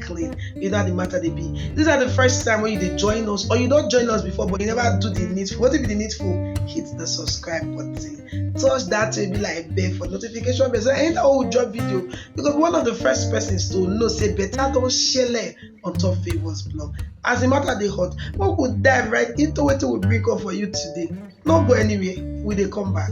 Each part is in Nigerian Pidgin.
clean you know how the matter they be these are the first time when you dey join us or you don't join us before but you never do the needful wetin be the needful hit the subscribe button touch that will be like bell for notification bell so anytime we drop video you go be one of the first persons to know say better don shele on top favours blog as the matter they hot we go dive right into what we bring up for you today no go anywhere we they come back.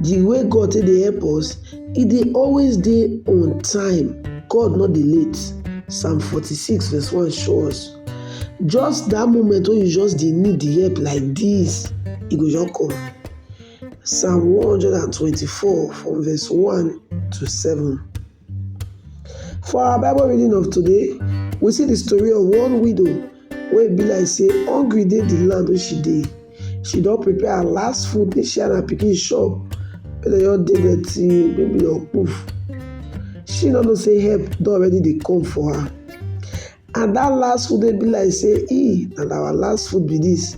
The way God take dey help us, e dey always dey on time. God no dey late. Psalm 46 verse 1 show us. Just that moment wey you just dey need the help like this, e go just come. Psalm 124 from verse 1 to 7. For our bible reading of today, we see the story of one widow wey be like say hungry dey the land wey she dey. She don prepare her last food make she and her pikin chop make dem just dey there till maybe dem poof. She no know say help don already dey come for her and that last food wey be like say e na our last food be this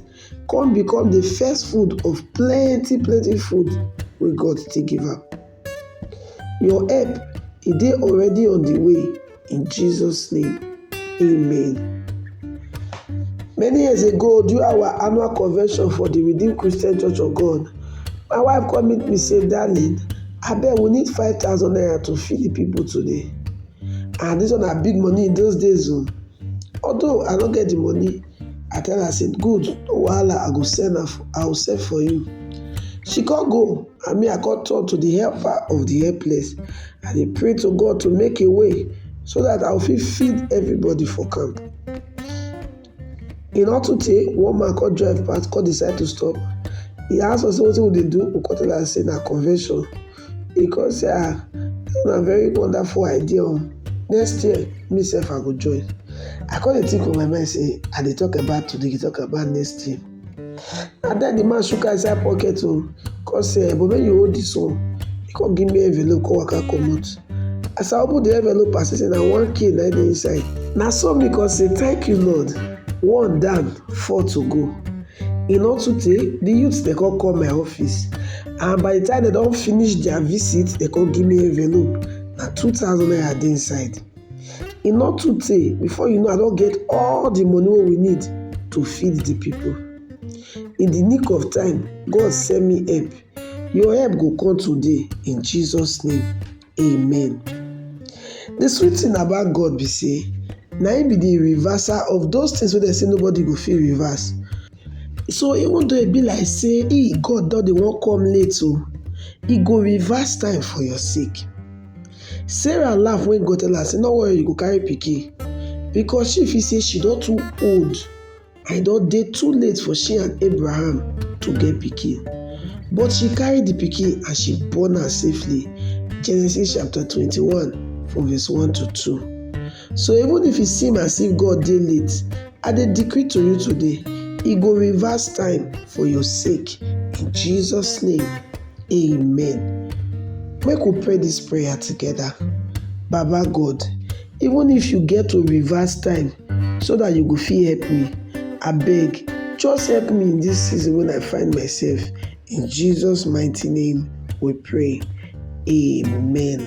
come become the first food of plenty plenty food wey God still give am. Your help e dey already on the way in Jesus name amen. Many years ago during our annual convention for the Redeemed Christian Church of God, my wife come meet me say darling abeg we need five thousand naira to feed the people today and this one na big money in those days o. Although I no get the money I tell her say good no wahala I go send am I go send for you. She come go and me I come turn to the helper of the helpless. I dey pray to God to make a way so that I go fit feed everybody for camp. E no too tey, one man come drive pass come decide to stop. He ask us wetin we dey do, we come tell am say na convention. He come say ah, this na very wonderful idea o, oh. next year me sef I go join. I come dey think for my mind say I dey talk about today, you dey talk about next year. Na den di man shook hand inside pocket o, kon sey, um bobo make you hold dis one, e kon give me envelope kon waka comot. As I open di envelope, I see sey na one k nai dey inside. Na so me kon sey, tank you Lord, one down, four to go. E nor too tey, di youths den kon come my office, and by di time den don finish dia visit, den kon give me envelope, na two thousand naira dey inside. e no too tey before you know I don get all the money wey we need to feed the people. In the nick of time, God send me help. Your help go come today in Jesus name, amen. The sweet thing about God be say na him be the reverser of those things wey dem say nobody go fit reverse. So even though e be like say he God don dey wan come late o, oh, he go reverse time for your sake. Sarah laugh when God tell her say no worry you go carry pikin because she feel say she don too old and e don dey too late for she and Abraham to get pikin. But she carry the pikin and she born am safely. Genesis chapter twenty-one from verse one to two. So even if e seem as if God dey late, I dey decree to you today, e go reverse time for your sake. In Jesus name, amen. Make we pray this prayer together. Baba God, even if you get to reverse time so that you go fit help me, abeg just help me in this season when I find myself. In Jesus mighty name we pray. Amen.